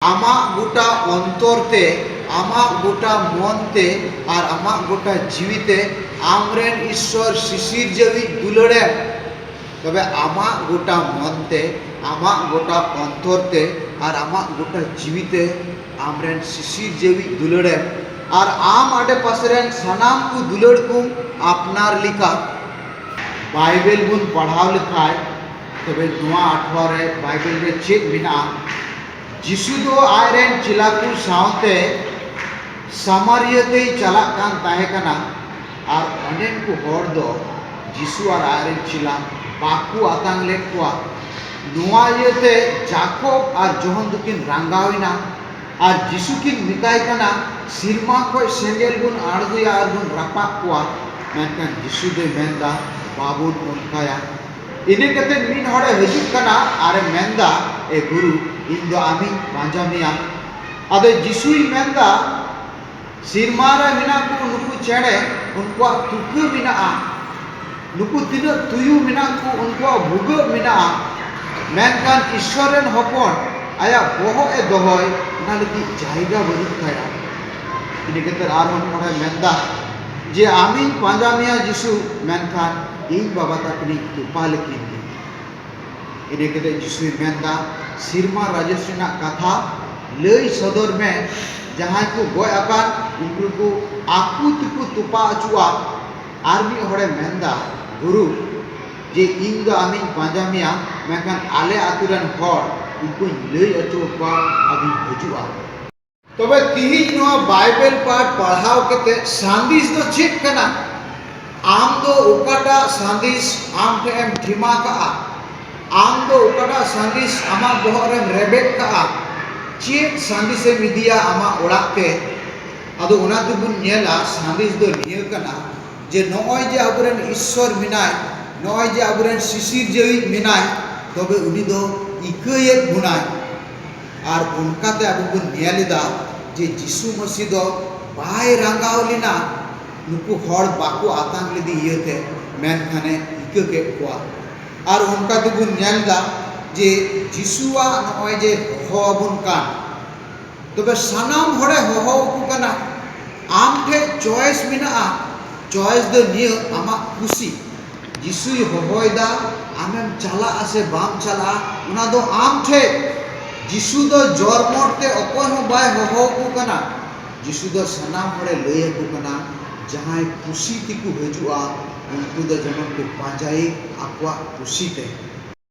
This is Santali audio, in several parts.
ᱟᱢᱟᱜ ᱜᱚᱴᱟ ᱚᱱᱛᱚᱨ ᱛᱮ, ᱟᱢᱟᱜ ᱜᱚᱴᱟ ᱢᱚᱱ ᱛᱮ ᱟᱨ ᱟᱢᱟᱜ ᱜᱚᱴᱟ ᱡᱤᱣᱤ ᱛᱮ ᱟᱢ ᱨᱮᱱ ᱤᱥᱥᱚᱨ ᱥᱤᱥᱤᱨᱡᱟᱹᱣᱤᱡ ᱫᱩᱞᱟᱹᱲ ᱮᱢ᱾ ᱛᱚᱵᱮ ᱟᱢᱟᱜ ᱜᱚᱴᱟ ᱢᱚᱱ ᱛᱮ, ᱟᱢᱟᱜ ᱜᱚᱴᱟ ᱚᱱᱛᱚᱨ ᱛᱮ ᱟᱨ ᱟᱢᱟᱜ ᱜᱚᱴᱟ ᱡᱤᱣᱤ ᱛᱮ ᱟᱢ ᱨᱮᱱ ᱥᱤᱥᱤᱨᱡᱟᱹᱣᱤᱡ ᱫᱩᱞᱟᱹᱲ ᱮᱢ ᱟᱨ ᱟᱢ ᱟᱰᱮ ᱯᱟᱥᱮ ᱨᱮᱱ ᱥᱟᱱᱟᱢ ᱠᱚ ᱫᱩᱞᱟᱹᱲ ᱠᱚᱢ ᱟᱯᱱᱟᱨ ᱞᱮᱠᱟ᱾ ᱵᱟᱭᱵᱮᱞ ᱵᱚᱱ ᱯᱟᱲᱦᱟᱣ ᱞᱮᱠᱷᱟᱡ᱾ ᱛᱚᱵᱮ ᱱᱚᱣᱟ ᱟᱴᱷᱣᱟ ᱨᱮ ᱵᱟᱭᱵᱮᱞ ᱨᱮ ᱪᱮᱫ ᱢᱮᱱᱟᱜᱼᱟ? ᱡᱤᱥᱩ ᱫᱚ ᱟᱡ ᱨᱮᱱ ᱪᱮᱞᱟ ᱠᱚ ᱥᱟᱶᱛᱮ ᱥᱟᱢᱟᱨᱤᱭᱟᱹ ᱛᱮᱭ ᱪᱟᱞᱟᱜ ᱠᱟᱱ ᱛᱟᱦᱮᱸ ᱠᱟᱱᱟ ᱟᱨ ᱚᱸᱰᱮᱱ ᱠᱚ ᱦᱚᱲ ᱫᱚ ᱡᱤᱥᱩ ᱟᱨ ᱟᱡ ᱨᱮᱱ ᱪᱮᱞᱟ ᱵᱟᱠᱚ ᱟᱛᱟᱝ ᱞᱮᱫ ᱠᱚᱣᱟ᱾ ᱱᱚᱣᱟ ᱤᱭᱟᱹᱛᱮ ᱡᱟᱠᱚᱵ ᱟᱨ ᱡᱚᱦᱚᱱ ᱫᱚᱠᱤᱱ ᱨᱟᱸᱜᱟᱣ ᱮᱱᱟ ᱟᱨ ᱡᱤᱥᱩ ᱠᱤᱱ ᱢᱮᱛᱟᱭ ᱠᱟᱱᱟ, ᱥᱤᱨᱢᱟ ᱠᱷᱚᱱ ᱥᱮᱸᱜᱮᱞ ᱵᱚᱱ ᱟᱬᱜᱚᱭᱟ ᱟᱨ ᱵᱚᱱ ᱨᱟᱯᱟᱜ ᱠᱚᱣᱟ᱾ ᱢᱮᱱᱠᱷᱟᱱ ᱡᱤᱥᱩ ᱫᱚᱭ ᱢᱮᱱ ᱮᱫᱟ, ᱵᱟᱵᱚᱱ ᱚᱱᱠᱟᱭᱟ᱾ ᱤᱱᱟᱹ ᱠᱟᱛᱮ ᱢᱤᱫ ᱦᱚᱲᱮ ᱦᱤᱡᱩᱜ ᱠᱟᱱᱟ ᱟᱨᱮ ᱢᱮᱱᱫᱟ ᱮ ᱜᱩᱨᱩ ᱤᱧ ᱫᱚ ᱟᱢᱤᱧ ᱯᱟᱸᱡᱟ ᱢᱮᱭᱟ ᱟᱫᱚ ᱡᱤᱥᱩᱭ ᱢᱮᱱᱫᱟ ᱥᱮᱨᱢᱟ ᱨᱮ ᱢᱮᱱᱟᱜ ᱠᱚ ᱱᱩᱠᱩ ᱪᱮᱬᱮ ᱩᱱᱠᱩᱣᱟᱜ ᱛᱩᱠᱟᱹ ᱢᱮᱱᱟᱜᱼᱟ ᱱᱩᱠᱩ ᱛᱤᱱᱟᱹᱜ ᱛᱩᱭᱩ ᱢᱮᱱᱟᱜ ᱠᱚ ᱩᱱᱠᱩᱣᱟᱜ ᱵᱷᱩᱜᱟᱹᱜ ᱢᱮᱱᱟᱜᱼᱟ ᱢᱮᱱᱠᱷᱟᱱ ᱤᱥᱥᱚᱨ ᱨᱮᱱ ᱦᱚᱯᱚᱱ ᱟᱭᱟᱜ ᱵᱚᱦᱚᱜ ᱮ ᱫᱚᱦᱚᱭ ᱚᱱᱟ ᱞᱟᱹᱜᱤᱫ ᱡᱟᱭᱜᱟ ᱵᱟᱹᱱᱩᱜ ᱛᱟᱭᱟ ᱤᱱᱟᱹ ᱠᱟᱛᱮ ᱟᱨᱦᱚᱸ ᱢᱤᱫ ᱦᱚᱲᱮ ᱢᱮᱱᱫᱟ ᱡᱮ ᱟᱢᱤᱧ ᱯᱟᱸᱡᱟ ᱢᱮᱭᱟ ᱡᱤᱥᱩ ᱢᱮᱱᱠᱷᱟᱱ ᱤᱧ ᱵᱟᱵᱟ ᱛᱟᱹᱠᱤᱱᱤᱡ ᱛᱚᱯᱟ ᱞᱮᱠᱤᱱ ᱜᱮ᱾ ᱤᱱᱟᱹ ᱠᱟᱛᱮ ᱡᱤᱥᱩᱭ ᱢᱮᱱᱫᱟ, ᱥᱤᱨᱢᱟ ᱨᱟᱡᱚᱥ ᱨᱮᱱᱟᱜ ᱠᱟᱛᱷᱟ ᱞᱟᱹᱭ ᱥᱚᱫᱚᱨ ᱢᱮ, ᱡᱟᱦᱟᱸᱭ ᱠᱚ ᱜᱚᱡ ᱟᱠᱟᱱ ᱩᱱᱠᱩ ᱠᱚ ᱟᱠᱚ ᱛᱮᱠᱚ ᱛᱚᱯᱟ ᱚᱪᱚᱜᱼᱟ᱾ ᱟᱨ ᱢᱤᱫ ᱦᱚᱲᱮ ᱢᱮᱱᱫᱟ, ᱜᱩᱨᱩ, ᱡᱮ ᱤᱧ ᱫᱚ ᱟᱢᱤᱧ ᱯᱟᱸᱡᱟ ᱢᱮᱭᱟ, ᱢᱮᱱᱠᱷᱟᱱ ᱟᱞᱮ ᱟᱹᱛᱩ ᱨᱮᱱ ᱦᱚᱲ ᱩᱱᱠᱩᱧ ᱞᱟᱹᱭ ᱚᱪᱚ ᱟᱠᱚᱣᱟ ᱟᱫᱚᱧ ᱦᱤᱡᱩᱜᱼᱟ᱾ ᱛᱚᱵᱮ ᱛᱤᱦᱤᱧ ᱱᱚᱣᱟ ᱵᱟᱭᱵᱮᱞ ᱯᱟᱴ ᱯᱟᱲᱦᱟᱣ ᱠᱟᱛᱮ ᱥᱟᱸᱫᱮᱥ ᱫᱚ ᱪᱮᱫ ᱠᱟᱱᱟ ᱟᱢ ᱫᱚ ᱚᱠᱟᱴᱟᱜ ᱥᱟᱸᱫᱮᱥ ᱟᱢ ᱴᱷᱮᱱ ᱮᱢ ᱴᱷᱤᱢᱟ ᱠᱟᱜᱼᱟ ᱟᱢ ᱫᱚ ᱚᱠᱟᱴᱟᱜ ᱥᱟᱸᱫᱮᱥ ᱟᱢᱟᱜ ᱵᱚᱦᱚᱜ ᱨᱮᱢ ᱨᱮᱵᱮᱫ ᱠᱟᱜᱼᱟ ᱪᱮᱫ ᱥᱟᱸᱫᱮᱥ ᱮᱢ ᱤᱫᱤᱭᱟ ᱟᱢᱟᱜ ᱚᱲᱟᱜ ᱛᱮ ᱟᱫᱚ ᱚᱱᱟ ᱛᱮᱵᱚᱱ ᱧᱮᱞᱟ ᱥᱟᱸᱫᱮᱥ ᱫᱚ ᱱᱤᱭᱟᱹ ᱠᱟᱱᱟ ᱡᱮ ᱱᱚᱜᱼᱚᱭ ᱡᱮ ᱟᱵᱚᱨᱮᱱ ᱤᱥᱥᱚᱨ ᱢᱮᱱᱟᱭ ᱱᱚᱜᱼᱚᱭ ᱡᱮ ᱟᱵᱚᱨᱮᱱ ᱥᱤᱥᱤᱨᱡᱟᱹᱣᱤᱡ ᱢᱮᱱᱟᱭ ᱛᱚᱵᱮ ᱩᱱᱤ ᱫᱚ ᱤᱠᱟᱹᱭᱮᱫ ᱵᱚᱱᱟᱭ ᱟᱨ ᱚᱱᱠᱟᱛᱮ ᱟᱵᱚ ᱵᱚᱱ ᱧᱮᱞ ᱮᱫᱟ ᱡᱮ ᱡᱤᱥᱩ ᱢᱟᱹᱥᱤ ᱫᱚ ᱵᱟᱭ ᱨᱟᱸᱜᱟᱣ ᱞᱮᱱᱟ ᱱᱩᱠᱩ ᱦᱚᱲ ᱵᱟᱠᱚ ᱟᱛᱟᱝ ᱞᱮᱫᱮ ᱤᱭᱟᱹᱛᱮ ᱢᱮᱱᱠᱷᱟᱱᱮ ᱤᱠᱟᱹ ᱠᱮᱫ ᱠᱚᱣᱟ ᱟᱨ ᱚᱱᱠᱟ ᱛᱮᱵᱚᱱ ᱧᱮᱞ ᱮᱫᱟ ᱡᱮ ᱡᱤᱥᱩᱣᱟᱜ ᱱᱚᱜᱼᱚᱭ ᱡᱮ ᱦᱚᱦᱚ ᱟᱵᱚᱱ ᱠᱟᱱ ᱛᱚᱵᱮ ᱥᱟᱱᱟᱢ ᱦᱚᱲᱮ ᱦᱚᱦᱚ ᱟᱠᱚ ᱠᱟᱱᱟ ᱟᱢ ᱴᱷᱮᱱ ᱪᱚᱭᱮᱥ ᱢᱮᱱᱟᱜᱼᱟ ᱪᱚᱭᱮᱥ ᱫᱚ ᱱᱤᱭᱟᱹ ᱟᱢᱟᱜ ᱠᱩᱥᱤ ᱡᱤᱥᱩᱭ ᱦᱚᱦᱚᱭᱮᱫᱟ, ᱟᱢᱮᱢ ᱪᱟᱞᱟᱜᱼᱟ ᱥᱮ ᱵᱟᱢ ᱪᱟᱞᱟᱜᱼᱟ, ᱚᱱᱟ ᱫᱚ ᱟᱢ ᱴᱷᱮᱡ᱾ ᱡᱤᱥᱩ ᱫᱚ ᱡᱚᱨᱢᱚᱴ ᱛᱮ ᱚᱠᱚᱭ ᱦᱚᱸ ᱵᱟᱭ ᱦᱚᱦᱚ ᱟᱠᱚ ᱠᱟᱱᱟ᱾ ᱡᱤᱥᱩ ᱫᱚ ᱥᱟᱱᱟᱢ ᱦᱚᱲᱮ ᱞᱟᱹᱭ ᱟᱠᱚ ᱠᱟᱱᱟ, ᱡᱟᱦᱟᱸᱭ ᱠᱩᱥᱤ ᱛᱮᱠᱚ ᱦᱤᱡᱩᱜᱼᱟ, ᱩᱱᱠᱩ ᱫᱚ ᱡᱮᱢᱚᱱ ᱠᱚ ᱯᱟᱸᱡᱟᱭᱮ ᱟᱠᱚᱣᱟᱜ ᱠᱩᱥᱤ ᱛᱮ᱾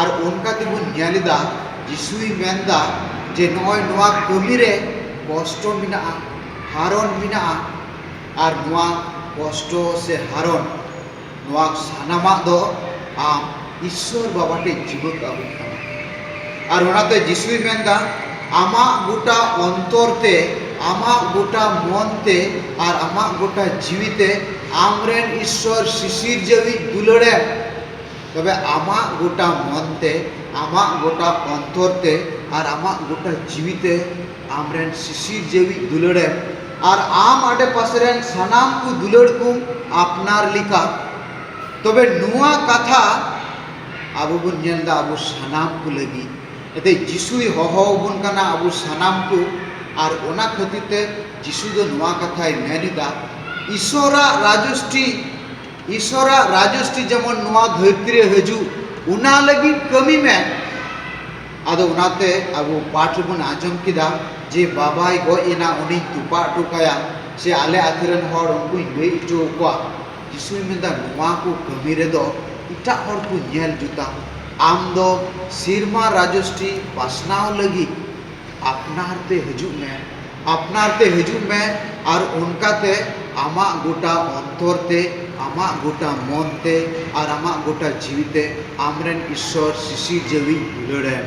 ᱟᱨ ᱚᱱᱠᱟ ᱜᱮᱵᱚᱱ ᱧᱮᱞ ᱮᱫᱟ ᱡᱤᱥᱩᱭ ᱢᱮᱱ ᱮᱫᱟ ᱡᱮ ᱱᱚᱜᱼᱚᱭ ᱱᱚᱣᱟ ᱠᱟᱹᱢᱤ ᱨᱮ ᱠᱚᱥᱴᱚ ᱢᱮᱱᱟᱜᱼᱟ ᱦᱟᱨᱚᱱ ᱢᱮᱱᱟᱜᱼᱟ ᱟᱨ ᱱᱚᱣᱟ ᱠᱚᱥᱴᱚ ᱥᱮ ᱦᱟᱨᱚᱱ ᱱᱚᱣᱟ ᱥᱟᱱᱟᱢᱟᱜ ᱫᱚ ᱟᱢ ᱤᱥᱥᱚᱨ ᱵᱟᱵᱟ ᱴᱷᱮᱱ ᱡᱤᱣᱭᱟᱹᱫ ᱟᱹᱜᱩ ᱦᱩᱭᱩᱜ ᱛᱟᱢᱟ ᱟᱨ ᱚᱱᱟᱛᱮ ᱡᱤᱥᱩᱭ ᱢᱮᱱ ᱮᱫᱟ ᱟᱢᱟᱜ ᱜᱚᱴᱟ ᱚᱱᱛᱚᱨ ᱛᱮ ᱟᱢᱟᱜ ᱜᱚᱴᱟ ᱢᱚᱱ ᱛᱮ ᱟᱨ ᱟᱢᱟᱜ ᱜᱚᱴᱟ ᱡᱤᱣᱤ ᱛᱮ ᱟᱢ ᱨᱮᱱ ᱤᱥᱥᱚᱨ ᱥᱤᱥᱤᱨᱡᱟᱹᱣᱤᱡ ᱫᱩᱞᱟᱹᱲ ᱮᱢ ᱛᱚᱵᱮ ᱟᱢᱟᱜ ᱜᱚᱴᱟ ᱢᱚᱱ ᱛᱮ, ᱟᱢᱟᱜ ᱜᱚᱴᱟ ᱚᱱᱛᱚᱨ ᱛᱮ ᱟᱨ ᱟᱢᱟᱜ ᱜᱚᱴᱟ ᱡᱤᱣᱤ ᱛᱮ ᱟᱢ ᱨᱮᱱ ᱥᱤᱥᱤᱨᱡᱟᱹᱣᱤᱡ ᱫᱩᱞᱟᱹᱲ ᱮᱢ ᱟᱨ ᱟᱢ ᱟᱰᱮᱯᱟᱥᱮ ᱨᱮᱱ ᱥᱟᱱᱟᱢ ᱠᱚ ᱫᱩᱞᱟᱹᱲ ᱠᱚᱢ ᱟᱯᱱᱟᱨ ᱞᱮᱠᱟ᱾ ᱛᱚᱵᱮ ᱱᱚᱶᱟ ᱠᱟᱛᱷᱟ ᱟᱵᱚ ᱵᱚᱱ ᱧᱮᱞ ᱮᱫᱟ ᱟᱵᱚ ᱥᱟᱱᱟᱢ ᱠᱚ ᱞᱟᱹᱜᱤᱫ᱾ ᱮᱱᱛᱮ ᱡᱤᱥᱩᱭ ᱦᱚᱦᱚ ᱟᱵᱚᱱ ᱠᱟᱱᱟ ᱟᱵᱚ ᱥᱟᱱᱟᱢ ᱠᱚ ᱟᱨ ᱚᱱᱟ ᱠᱷᱟᱹᱛᱤᱨ ᱛᱮ ᱡᱤᱥᱩ ᱫᱚ ᱱᱚᱶᱟ ᱠᱟᱛᱷᱟᱭ ᱢᱮᱱ ᱮᱫᱟ, ᱤᱥᱚᱨᱟᱜ ᱨᱟᱡᱚᱥᱴᱷᱤ᱾ ᱤᱥᱚᱨᱟᱜ ᱨᱟᱡᱚᱥᱴᱤ ᱡᱮᱢᱚᱱ ᱱᱚᱣᱟ ᱫᱷᱟᱹᱨᱛᱤ ᱨᱮ ᱦᱤᱡᱩᱜ ᱚᱱᱟ ᱞᱟᱹᱜᱤᱫ ᱠᱟᱹᱢᱤ ᱢᱮ ᱟᱫᱚ ᱚᱱᱟᱛᱮ ᱟᱵᱚ ᱯᱟᱴᱷ ᱨᱮᱵᱚᱱ ᱟᱸᱡᱚᱢ ᱠᱮᱫᱟ ᱡᱮ ᱵᱟᱵᱟᱭ ᱜᱚᱡ ᱮᱱᱟ ᱩᱱᱤᱧ ᱛᱚᱯᱟ ᱦᱚᱴᱚ ᱠᱟᱭᱟ ᱥᱮ ᱟᱞᱮ ᱟᱛᱳ ᱨᱮᱱ ᱦᱚᱲ ᱩᱱᱠᱩᱧ ᱜᱚᱡ ᱦᱚᱪᱚ ᱟᱠᱚᱣᱟ ᱡᱤᱥᱩᱭ ᱢᱮᱱᱫᱟ ᱱᱚᱣᱟ ᱠᱚ ᱠᱟᱹᱢᱤ ᱨᱮᱫᱚ ᱮᱴᱟᱜ ᱦᱚᱲ ᱠᱚ ᱧᱮᱞ ᱡᱩᱛᱟ ᱟᱢ ᱫᱚ ᱥᱮᱨᱢᱟ ᱨᱟᱡᱚᱥᱴᱤ ᱯᱟᱥᱱᱟᱣ ᱞᱟᱹᱜᱤᱫ ᱟᱯᱱᱟᱨ ᱛᱮ ᱦᱤᱡᱩᱜ ᱢᱮ᱾ ᱟᱯᱱᱟᱨ ᱛᱮ ᱦᱤᱡᱩᱜ ᱢᱮ ᱟᱨ ᱚᱱᱠᱟ ᱛᱮ ᱟᱢᱟᱜ ᱜᱚᱴᱟ ᱚᱱᱛᱚᱨ ᱛᱮ, ᱟᱢᱟᱜ ᱜᱚᱴᱟ ᱢᱚᱱ ᱛᱮ ᱟᱨ ᱟᱢᱟᱜ ᱜᱚᱴᱟ ᱡᱤᱣᱤ ᱛᱮ ᱟᱢ ᱨᱮᱱ ᱤᱥᱥᱚᱨ ᱥᱤᱥᱤᱨᱡᱟᱹᱣᱤᱡ ᱫᱩᱞᱟᱹᱲ ᱮᱢ᱾